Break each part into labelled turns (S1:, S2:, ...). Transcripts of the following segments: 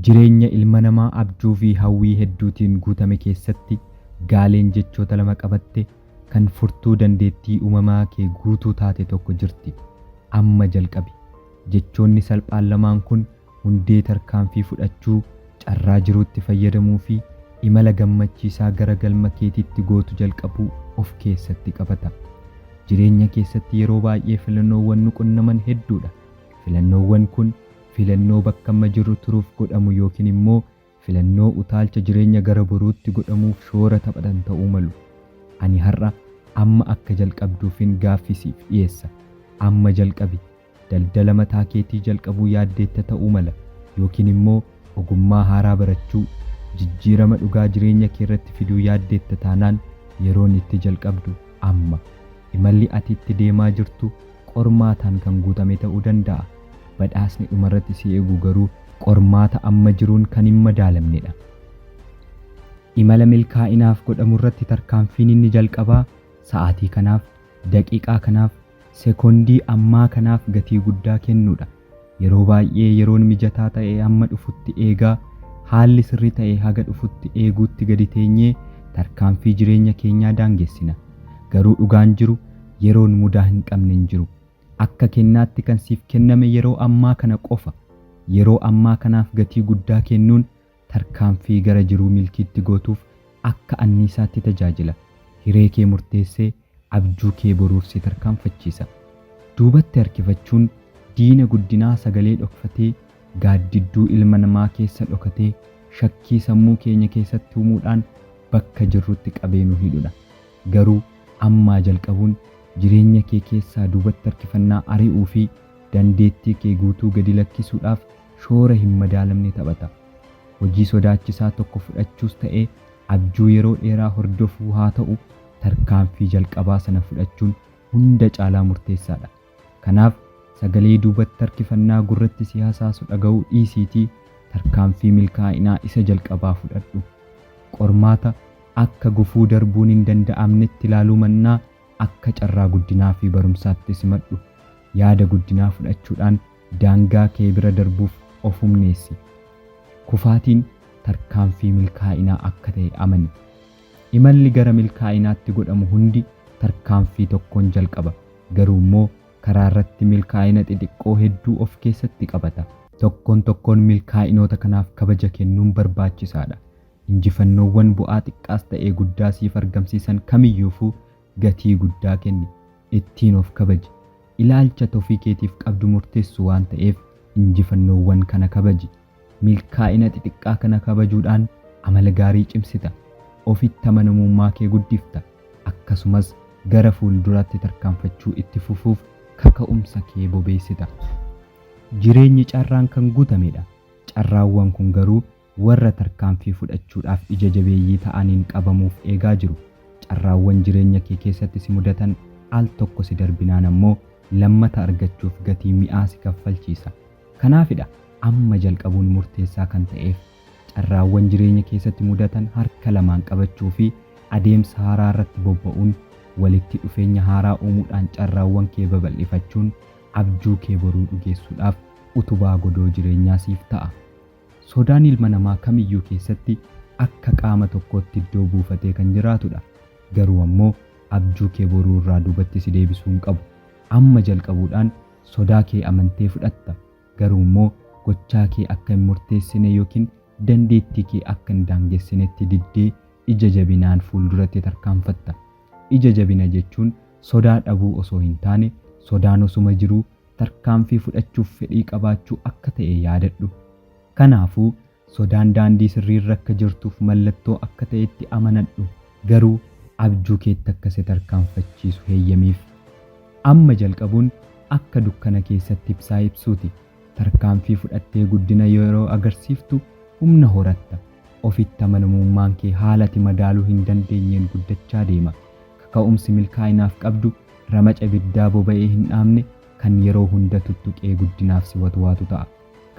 S1: Jireenya ilma namaa abjuu fi hawwii hedduutiin guutame keessatti gaaleen jechoota lama qabatte kan furtuu dandeettii uumamaa kee guutuu taate tokko jirti. Amma jalqabi. Jechoonni salphaan lamaan kun hundee tarkaanfii fudhachuu, carraa jiruutti fayyadamuu fi imala gammachiisaa gara galma keetiitti gootu jalqabuu of keessatti qabata. Jireenya keessatti yeroo baay'ee filannoowwan nu qunnaman hedduudha. Filannoowwan kun. filannoo bakka amma jirru turuuf godhamu yookiin immoo filannoo utaalcha jireenya gara boruutti godhamuuf shoora taphatan ta'uu malu. Ani har'a amma akka jalqabduufin gaaffii siif dhiyeessa. Amma jalqabi. Daldala mataa keetii jalqabuu yaaddeetta ta'uu mala, yookiin immoo ogummaa haaraa barachuu, jijjiirama dhugaa jireenya kee irratti fiduu yaaddeetta taanaan yeroon itti jalqabdu amma. Imalli ati itti deemaa jirtu qormaataan kan guutame ta'uu danda'a. Badhaasni dhumarratti si eegu garuu qormaata amma jiruun kan hin madaalamnedha. Imala milkaa'inaaf godhamurratti tarkaanfiin inni jalqabaa sa'aatii kanaaf, daqiiqaa kanaaf, sekoondii ammaa kanaaf gatii guddaa kennuudha. Yeroo baay'ee yeroon mijataa ta'e amma dhufutti eegaa, haalli sirri ta'e haga dhufutti eeguutti gadi teenyee tarkaanfii jireenya keenyaa daangessina. Garuu dhugaan jiru yeroon mudaa hin qabne hin jiru. Akka kennaatti kan siif kenname yeroo ammaa kana qofa. Yeroo ammaa kanaaf gatii guddaa kennuun tarkaanfii gara jiruu milkiitti gootuuf akka anniisaatti tajaajila. Hiree kee murteessee abjuu kee boruuf si tarkaanfachiisa. Duubatti harkifachuun diina guddinaa sagalee dhokfatee gaaddidduu ilma namaa keessa dhokatee shakkii sammuu keenya keessatti uumuudhaan bakka jirrutti qabee nu hidhudha. Garuu ammaa jalqabuun jireenya kee keessaa duubatti harkifannaa ari'uu fi dandeettii kee guutuu gadi lakkisuudhaaf shoora hin madaalamne taphata. Hojii sodaachisaa tokko fudhachuus ta'ee abjuu yeroo dheeraa hordofuu haa ta'u, tarkaanfii jalqabaa sana fudhachuun hunda caalaa murteessaa dha. Kanaaf, sagalee duubatti harkifannaa gurratti si hasaasu dhaga'uu dhiisiitii tarkaanfii milkaa'inaa isa jalqabaa fudhadhu. Qormaata akka gufuu darbuun hin danda'amnetti ilaaluu mannaa, akka carraa guddinaa fi barumsaatti simadhu. Yaada guddinaa fudhachuudhaan Daangaa kee bira darbuuf of humneessi. Kufaatiin tarkaanfii milkaa'inaa akka ta'e amani. Imalli gara milkaa'inaatti godhamu hundi tarkaanfii tokkoon jalqaba, garuu immoo karaarratti milkaa'ina xixiqqoo hedduu of keessatti qabata. Tokkoon tokkoon milkaa'inoota kanaaf kabaja kennuun barbaachisaadha. Injifannoowwan bu'aa xiqqaas ta'e guddaa siif argamsiisan kamiyyuufuu gatii guddaa kenni, ittiin of kabaji. Ilaalcha ati ofii keetiif qabdu murteessu waan ta'eef injifannoowwan kana kabaji. Milkaa'ina xixiqqaa kana kabajuudhaan amala gaarii cimsita, ofitti amanamummaa kee guddifta, akkasumas gara fuulduraatti tarkaanfachuu itti fufuuf kaka'umsa kee bobeessita. Jireenyi carraan kan guutamedha, carraawwan kun garuu warra tarkaanfii fudhachuudhaaf ija jabeeyyii ta'aniin qabamuuf eegaa jiru. Carraawwan jireenya kee keessatti si mudatan al tokko si darbinaan ammoo lammata argachuuf gatii mi'aa si kaffalchiisa. Kanaafidha amma jalqabuun murteessaa kan ta'eef. Carraawwan jireenya keessatti mudatan harka lamaan qabachuu fi adeemsa haaraa irratti bobba'uun, walitti dhufeenya haaraa uumuudhaan carraawwan kee babal'ifachuun abjuu kee boruu dhugeessuudhaaf utubaa godoo jireenyaa siif ta'a. Sodaan ilma namaa kamiyyuu keessatti akka qaama tokkootti iddoo buufatee kan jiraatudha. Garuu ammoo abjuu kee boruu irraa duubatti si deebisuu hin qabu. Amma jalqabuudhaan sodaa kee amantee fudhatta. Garuu immoo gochaa kee akka hin murteessine yookiin dandeettii kee akka hin daangessinetti diddee ija jabinaan fuulduratti tarkaanfatta. Ija jabina jechuun sodaa dhabuu osoo hin taane sodaan osuma jiruu tarkaanfii fudhachuuf fedhii qabaachuu akka ta'e yaadadhu. Kanaafuu, sodaan daandii sirrii irra akka jirtuuf mallattoo akka ta'etti amanadhu, garuu abjuu keetti akka si tarkaanfachiisu heyyamiif. Amma jalqabuun akka dukkana keessatti ibsaa ibsuuti. Tarkaanfii fudhattee guddina yeroo agarsiiftu humna horatta. Ofitti amanamummaan kee haala ati madaaluu hin dandeenyeen guddachaa deema. Kaka'umsi milkaa'inaaf qabdu Ramaca ibiddaa boba'ee hin dhaamne kan yeroo hunda tuttuqee guddinaaf si watwaatu ta'a.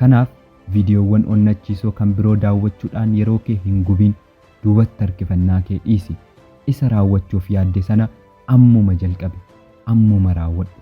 S1: Kanaaf, viidiyoowwan onnachiisoo kan biroo daawwachuudhaan yeroo kee hin gubiin, duubatti harkifannaa kee dhiisi. Isa raawwachuuf yaadde sana ammuma jalqabi. Ammuma raawwadhu.